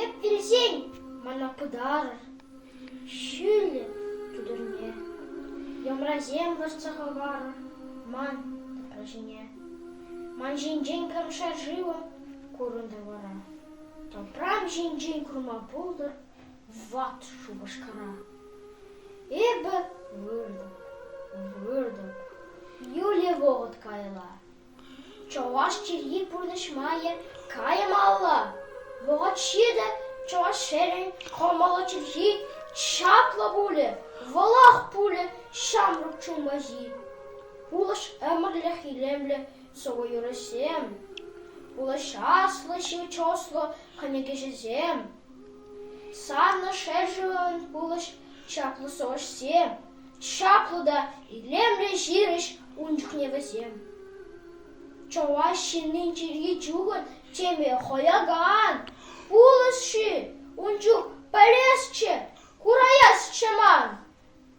Эп вилсен, мана пытарӑр, ҫӳллӗ тутӑрне, йӑмрасем лартса хӑварӑр ман тӑпра ҫине. Ман ҫинчен кӑркша шывӑ курӑнтӑр вара, тӑпрам ҫинчен курма пултӑр Ват шупашкара. Эпӗ выртӑп, выртӑп. Юлия вӑхӑт каялла. Чӑваш чӗлхи пурнӑҫ майӗ каймалла. Вӑхӑт ҫитӗ, чӑваш ҫӗрӗн кӑмӑллӑ чӗлхи чаплӑ пулӗ, вӑлах пулӗ ҫамрӑк чунпахи. Пулӑш ӗмӗрлӗх илемлӗ сӑвӑ-юрӑсем, пулӑшаслӑ ҫивӗч ӑслӑ кӗнекеҫӗсем. Санӑн ҫӗршывӑн пулӑҫ-чаплӑ сӑвӑҫсем, чаплӑ та илемлӗ ҫырӑҫ ун чухне вӗсем. Чӑваш ҫыннин чӗри чухӑн теме хӑякан пулӑҫ-ши ун чух пӗлесчӗ, кураясчӗ ман.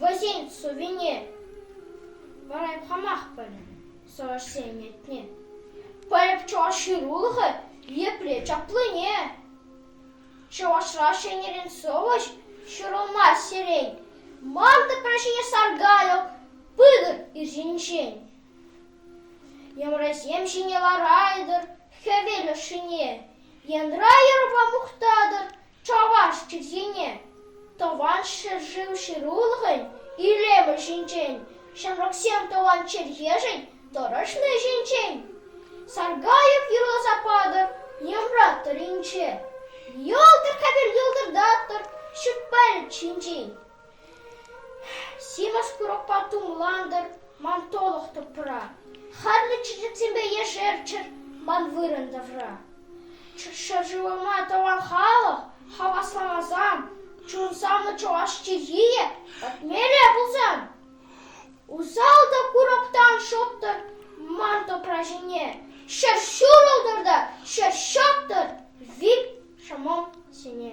Вӗсен сувене парать хамах пӗлнӗ чӑвашсен ятне. Пӗлӗп чӑваш ҫырулӑхӗ епле чаплине. Чӑвашра ҫӗнӗрен сӑвӑҫ ҫурӑлмасть сирен. Ман тӑпра ҫине саркалӑк пытӑр ир ҫинчен. Йӑмрасем ҫине ларайтӑр хӗвел ӑшшине. Янра юрӑпа мухтатӑр Чӑваш чӗлхине Тӑван ҫӗршыв ҫырулӑхӗн илемӗ ҫинчен, ҫамрӑксем тӑван чӗлхешӗн тӑрӑшни ҫинчен Саргаев юрласа патӑр Йӑмра-тӑрринче, Йӑлтӑр хӗвел йӑлтӑртатӑр ҫут пӗлӗт ҫинчен. Симӗс курӑкпа тумлантӑр ман тӑлӑх тӑпра, Харлӑ чечексемпе ешерччӗр ман вырӑн тавра. Ҫӗршывӑма тӑван халӑх хавасламасан, Чунсанлӑ чӑваш чӗлхийӗ пӗтмелле пулсан, Усал та курӑктан шӑттӑр ман тӑпра ҫине, Ҫӗр ҫурӑлтӑр та ҫӗр ҫӑттӑр вил ҫӑмӑл сене.